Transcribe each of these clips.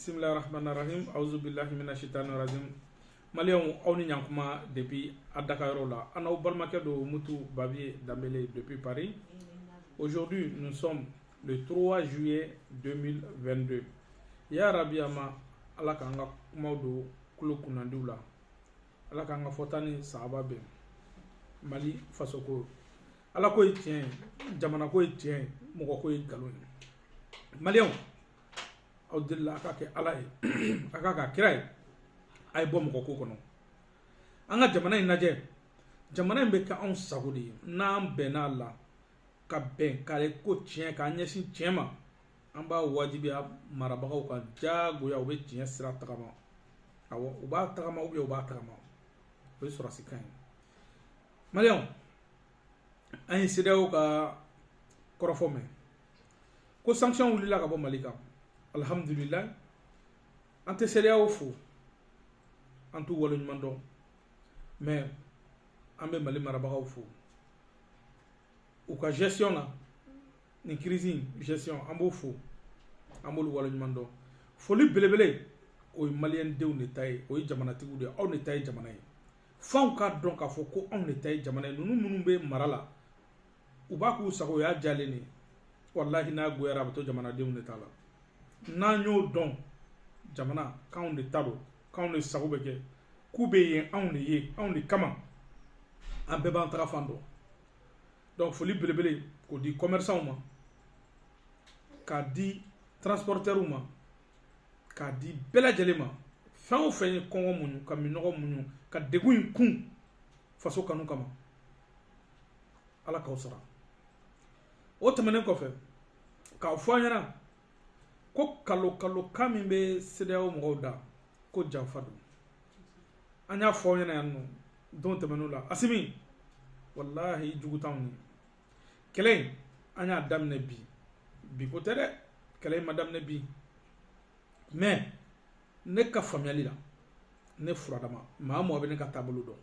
bisimilahi rahmani rahim awuzu bilahi mina shitani rajim maliyɛnw aw ni ɲankuma depuis a dagayɔrɔ la an n'aw balimakɛ don mutu babiye danbele depuis paris aujourd'hui nous sommes le 3 juillet 2022 ya rabi ama ala k'an ka kumaw don kulo kunnandiw la ala k'an ka fɔta ni sahaba bɛn mali fasoko ala ko ye tiɲɛ ye jamana ko ye tiɲɛ ye mɔgɔ ko ye nkalon ye maliyɛnw aw delila a k'a kɛ ala ye a k'a kɛ kira ye a ye bɔ mɔgɔ ko kɔnɔ an ka jamana in lajɛ jamana in bɛ kɛ anw sago de ye n'an bɛnn'a la ka bɛn kare ko tiɲɛ k'an ɲɛsin tiɲɛ ma an b'a wajibiya marabagaw ka diyagoya u bɛ tiɲɛ sira tagama awɔ u b'a tagama u b'a tagama o ye sɔrɔsi kan ye maliyɛnw an ye CEDEAO ka kɔrɔfɔ mɛn ko sanction wulila ka bɔ mali kan alihamudulilayi an tɛ CEDEAO fo an t'u waleɲuman dɔn mais an bɛ mali marabagaw fo u ka gestion na nin crise in gestion an b'o fo an b'olu waleɲuman dɔn foli belebele o ye maliyɛn denw de ta ye o ye jamanatigiw de ye aw de ta ye jamana ye f'anw k'a dɔn k'a fɔ ko anw de ta ye jamana ye ninnu minnu bɛ mara la u b'a k'u sago o y'a diyalen de walahi n'a goyara a bɛ to jamanadenw de ta la n'an y'o dɔn jamana k'anw de ta don k'anw de sago bɛ kɛ k'u bɛ yen anw de ye anw de kama an bɛɛ b'an tagafan dɔn donc foli belebele k'o di commerçants ma k'a di transporteurs ma k'a di bɛɛ lajɛlen ma fɛn o fɛn ye kɔngɔ muɲu ka minɔgɔ muɲu ka degun in kun faso kanu kama ala k'aw sara o tɛmɛnen kɔfɛ k'a fɔ an ɲɛna ko nkalon nkalonkan min bɛ CEDEAO mɔgɔw da ko janfa don an y'a fɔ aw ɲɛna yan nɔ don tɛmɛnenw la Asimi walahi jugu t'anw ye kɛlɛ in an y'a daminɛ bi bi ko tɛ dɛ kɛlɛ in ma daminɛ bi mais ne ka faamuyali la ne furadama maa mɔgɔ bɛ ne ka taabolo dɔn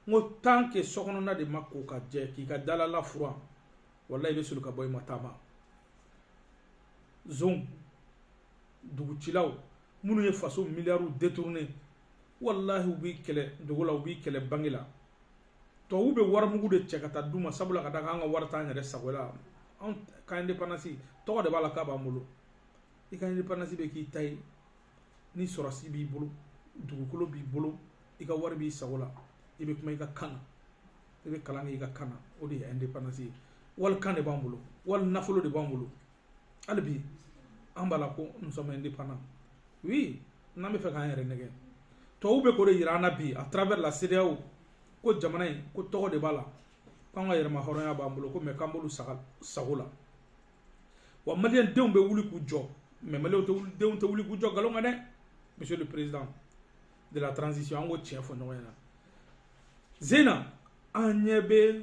n ko tant que sokɔnɔna de ma ko ka jɛ k'i ka dalala furan walayi i bɛ soli ka bɔ i ma taama zon dugucilaw minnu ye faso miliyariw détourné walahi u b'i kɛlɛ dogo la u b'i kɛlɛ bange la tubabu bɛ warimugu de cɛ ka taa d'u ma sabula ka da kan an ka wari t'an yɛrɛ sago la anw ka indépendance tɔgɔ de b'a la k'a b'an bolo i ka indépendance bɛ k'i ta ye ni sɔrɔsi b'i bolo dugukolo b'i bolo i ka wari b'i sago la i bɛ kuma i ka kan na i bɛ kalan kɛ i ka kan na o de ye indépendance ye wali kan de b'an bolo wali nafolo de b'an bolo hali bi an b'a la ko nous sommes indépendants oui n'an bɛ fɛ k'an yɛrɛ nɛgɛn tubabu bɛ k'o de jira an na bi à travers la CEDEAO ko jamana in ko tɔgɔ de b'a la k'an ka yɛrɛmahɔrɔnya b'an bolo ko mais k'an b'olu saga sago la wa maliyɛn denw bɛ wuli k'u jɔ mais maliyɛnw tɛ wuli denw tɛ wuli k'u jɔ nkalon kan dɛ monsieur le président de la transition an k'o tiɲɛ fɔ ɲɔgɔn ɲɛna zena an ɲɛ bɛ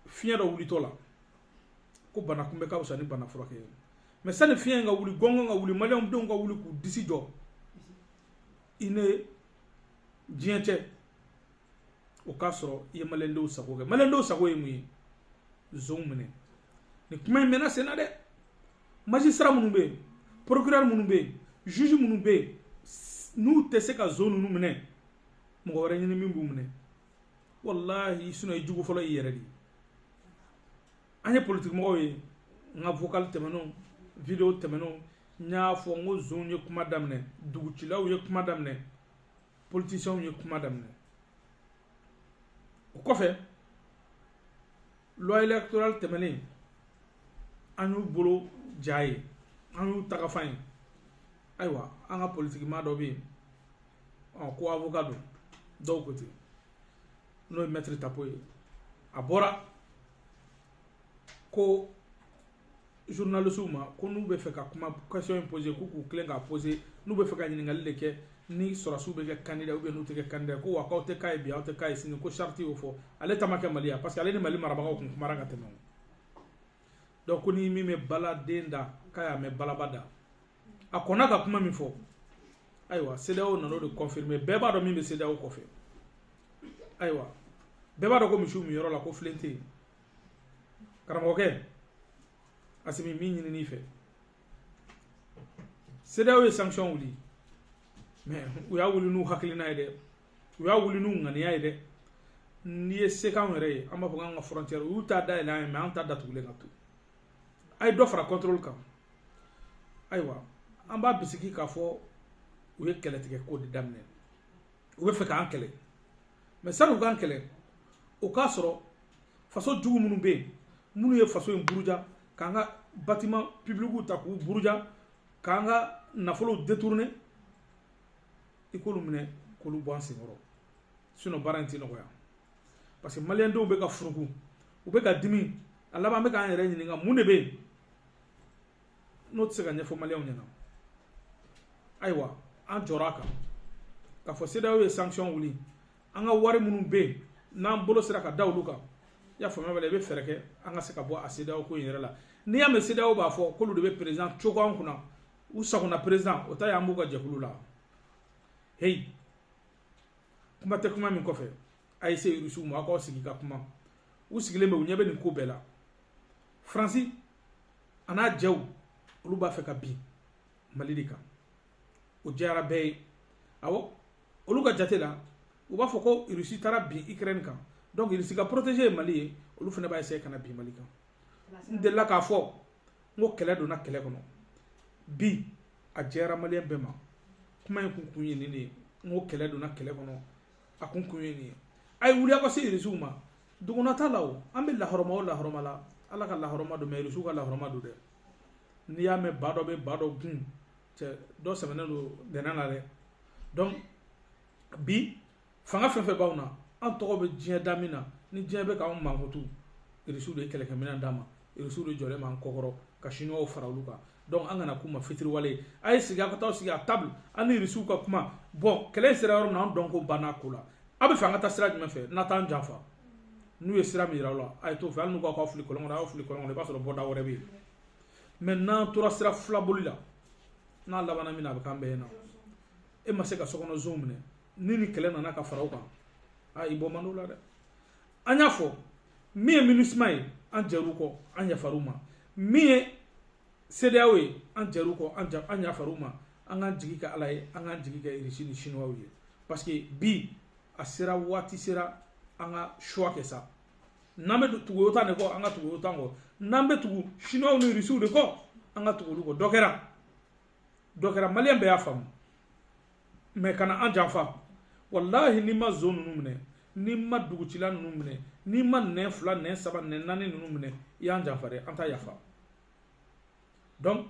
fiɲɛ dɔ wulitɔ la ko bana kunbɛ ka fisa ni bana furakɛ ye mais sani fiɲɛ ka wuli gɔngɔn ka wuli maliyɛn denw ka wuli k'u disi jɔ i ni diɲɛ cɛ o k'a sɔrɔ i ye maliyɛndenw sago kɛ maliyɛndenw sago ye mun ye zonw minɛ nin kuma in mɛnna sen na dɛ magistrat minnu bɛ yen procureur minnu bɛ yen juge minnu bɛ yen n'u tɛ se ka zon ninnu minɛ mɔgɔ wɛrɛ ɲini min b'u minɛ walahi sinon i jugu fɔlɔ y'i yɛrɛ de ye an ye politikimɔgɔw ye n ka vocal tɛmɛnenw video tɛmɛnenw n y'a fɔ n ko zonw ye kuma daminɛ dugucilaw ye kuma daminɛ politisiɛnw ye kuma daminɛ o kɔfɛ loi électorale tɛmɛnen an y'u bolo ja ye an y'u tagafan ye ayiwa an ka politikimaa dɔ bɛ yen ɔ ko avocat don dɔw ko ten n'o ye maître Tapo ye a bɔra ko journalistes ma ko n'u bɛ fɛ ka kuma question in poser k'u k'u tilen k'a poser n'u bɛ fɛ ka ɲininkali de kɛ ni sɔrɔsiw bɛ kɛ candidat ou bien n'u tɛ kɛ candidat ko wa k'aw tɛ k'a ye bi aw tɛ k'a ye sini ko charte y'o fɔ ale ta ma kɛ Mali ya parce que ale ni Mali marabagaw tun kumara ka tɛmɛ o donc ko ni min bɛ baladen da k'a y'a mɛn balaba da a kɔnna ka kuma min fɔ ayiwa CEDEAO nan'o de confirmer bɛɛ b'a dɔn min bɛ CEDEAO kɔfɛ ayiwa bɛɛ b'a dɔn ko misiw minyɔrɔ la ko filen tɛ yen karamɔgɔkɛ Asimi min ɲinin'i fɛ CEDEAO ye sanction wuli mais u y'a wuli n'u hakilina ye dɛ u y'a wuli n'u ŋaniya ye dɛ n'i ye se k'anw yɛrɛ ye an b'a fɔ k'an ka frontière u y'u ta dayɛlɛ an ye mais an ta datugulen ka to a ye dɔ fara contrôle kan ayiwa an b'a bisiki k'a fɔ u ye kɛlɛtigɛ ko de daminɛ u bɛ fɛ k'an kɛlɛ mais sani u k'an kɛlɛ o k'a sɔrɔ faso jugu minnu bɛ yen minnu ye faso in buruja k'an ka bâtiment publicw ta k'u buruja k'an ka nafolow détourner i k'olu minɛ k'olu bɔ an senkɔrɔ sinon baara in tɛ nɔgɔya parce que maliyɛndenw bɛ ka furuku u bɛ ka dimi a laban bɛ k'an yɛrɛ ɲininka mun de bɛ yen n'o tɛ se ka ɲɛfɔ maliyɛnw ɲɛna ayiwa an jɔra a kan k'a fɔ CEDEAO ye sanction wuli an ka wari minnu bɛ yen n'an bolo sera ka da olu kan i y'a faamuya bɛɛ i bɛ fɛɛrɛ kɛ an ka se ka bɔ a CEDEAO ko in yɛrɛ la n'i y'a mɛn CEDEAO b'a fɔ k'olu de bɛ président cogo an kunna u sagona président o ta y'an b'u ka jɛkulu la heyi kuma tɛ kuma min kɔfɛ a ye se irisiw ma aw k'aw sigi ka kuma u sigilen bɛ u ɲɛ bɛ nin ko bɛɛ la faransi an'a jɛw olu b'a fɛ ka bin mali de kan o jɛyara bɛɛ ye awɔ olu ka jate la u b'a fɔ ko irisi taara bin ukraine kan donc irisi ka protégé ye mali ye olu fana b'a essayer ka na bin mali kan n delila k'a fɔ n ko kɛlɛ donna kɛlɛ kɔnɔ bi a jɛyara maliyɛn bɛɛ ma kuma in kun kun ye nin de ye n ko kɛlɛ donna kɛlɛ kɔnɔ a kun kun ye nin ye a ye wuli aw ka se irisiw ma duguna t'a la o an bɛ lahɔrɔma o lahɔrɔma la ala ka lahɔrɔma don mais irisiw ka lahɔrɔma don dɛ n'i y'a mɛn ba dɔ bɛ ba dɔ gun cɛ dɔ sɛmɛnen don dɛnɛn na dɛ donc bi fanga fɛn fɛn b'anw na an tɔgɔ bɛ diɲɛ da min na ni diɲɛ bɛ k'anw mankutu irisiw de ye kɛlɛkɛminɛn d'an ma irisiw de jɔlen b'an kɔkɔrɔ ka siniwaw fara olu kan donc an kana k'u ma fitiriwale ye a ye sigi a ka taa sigi à table an ni irisiw ka kuma bon kɛlɛ in sera yɔrɔ min na an dɔnko banna ko la aw b'a fɛ an ka taa sira jumɛn fɛ n'a t'an janfa n'u ye sira min yira aw la a ye t'o fɛ hali n'u k'aw ka fili kɔlɔn kɔnɔ a y'aw fili kɔlɔn kɔnɔ i b'a sɔrɔ bɔda wɛrɛ bɛ yen mais n'an tora sira filaboli la n'a labanna min na a bɛ k'an bɛɛ ɲɛna e ma se ka sokɔnɔ zonw minɛ ni ni kɛlɛ nana ka fara o kan a i bɔ man di o la dɛ an y'a fɔ min ye MINUSMA ye an jɛr'u kɔ an yafar'u ma min ye CEDEAO ye an jɛr'u kɔ an ja an yafar'u ma an k'an jigi kɛ ala ye an k'an jigi kɛ irisi ni siniwaw ye parce que bi a sera waati sera an ka choix kɛ sa n'an bɛ tugu OTAN de kɔ an ka tugu OTAN kɔ n'an bɛ tugu siniwaw n'irisiw de kɔ an ka tugu olu kɔ dɔ kɛra dɔ kɛra maliyɛn bɛɛ y'a faamu mais kana an janfa walahi n'i ma zon ninnu minɛ n'i ma dugutila ninnu minɛ n'i ma nɛn fila nɛn saba nɛn naani ninnu minɛ i y'an janfa dɛ an t'a yafa donc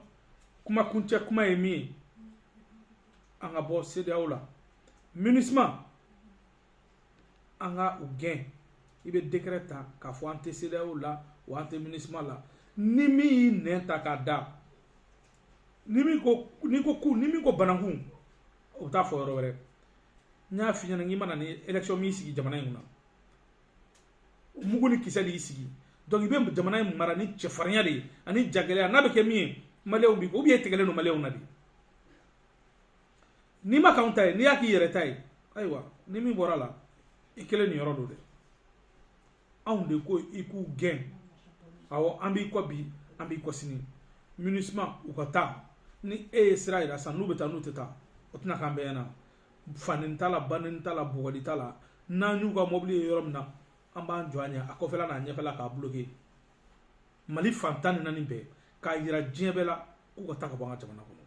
kuma kuncɛ kuma ye min ye an ka bɔ CEDEAO la MINUSMA an ka u gɛn i bɛ décret ta k'a fɔ an tɛ CEDEAO la wa an tɛ MINUSMA la ni min y'i nɛn ta k'a da ni min ko n'i ko ku ni min ko banankun o bɛ t'a fɔ yɔrɔ wɛrɛ n y'a f'i ɲɛna k'i ma na ni élection m'i sigi jamana in kunna mugu ni kisɛ de y'i sigi donc i bɛ jamana in mara ni cɛfarinya de ye ani jagɛlɛya n'a bɛ kɛ min ye maliyɛnw b'i kɔ ou bien e tigɛlen don maliyɛnw na de n'i m'a k'anw ta ye n'i y'a k'i yɛrɛ ta ye ayiwa ni min bɔr'a la i kelen niyɔrɔ don dɛ anw de ko i k'u gɛn awɔ an b'i kɔ bi an b'i kɔ sini MINUSMA u ka taa ni e ye sira yira sisan n'u bɛ taa n'u tɛ taa o tɛna k'an bɛɛ ɲɛna fanin t'a la banin t'a la bugɔli t'a la n'an y'u ka mɔbili ye yɔrɔ min na an b'an jɔ a ɲɛ a kɔfɛla n'a ɲɛfɛla k'a bloke mali fan tan ni naani bɛɛ k'a yira diɲɛ bɛɛ la k'u ka taa ka bɔ an ka jamana kɔnɔ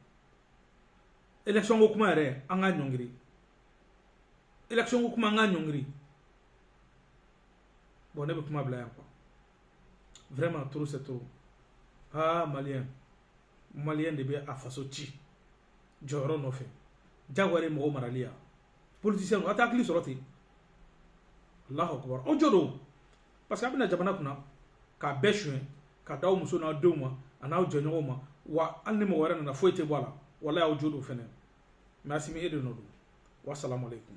élection ko kuma yɛrɛ an k'a ɲɔngiri élection ko kuma an k'a ɲɔngiri bon ne bɛ kuma bila yan quoi vraiment trop c'est trop aa maliyɛn maliyɛn de bɛ a faso ci jɔyɔrɔ nɔfɛ jagoya de mɔgɔ marali yan politisiyɛnw a tɛ hakili sɔrɔ ten alahu akubar aw jo don parce que a bɛ na jamana kunna k'a bɛɛ suɲɛ k'a d'aw muso n'aw denw ma an'aw jɛɲɔgɔnw ma wa hali ni mɔgɔ wɛrɛ nana foyi tɛ bɔ a la walayi aw jo don fɛnɛ mais asimi e de nɔ don wasalamu aleykum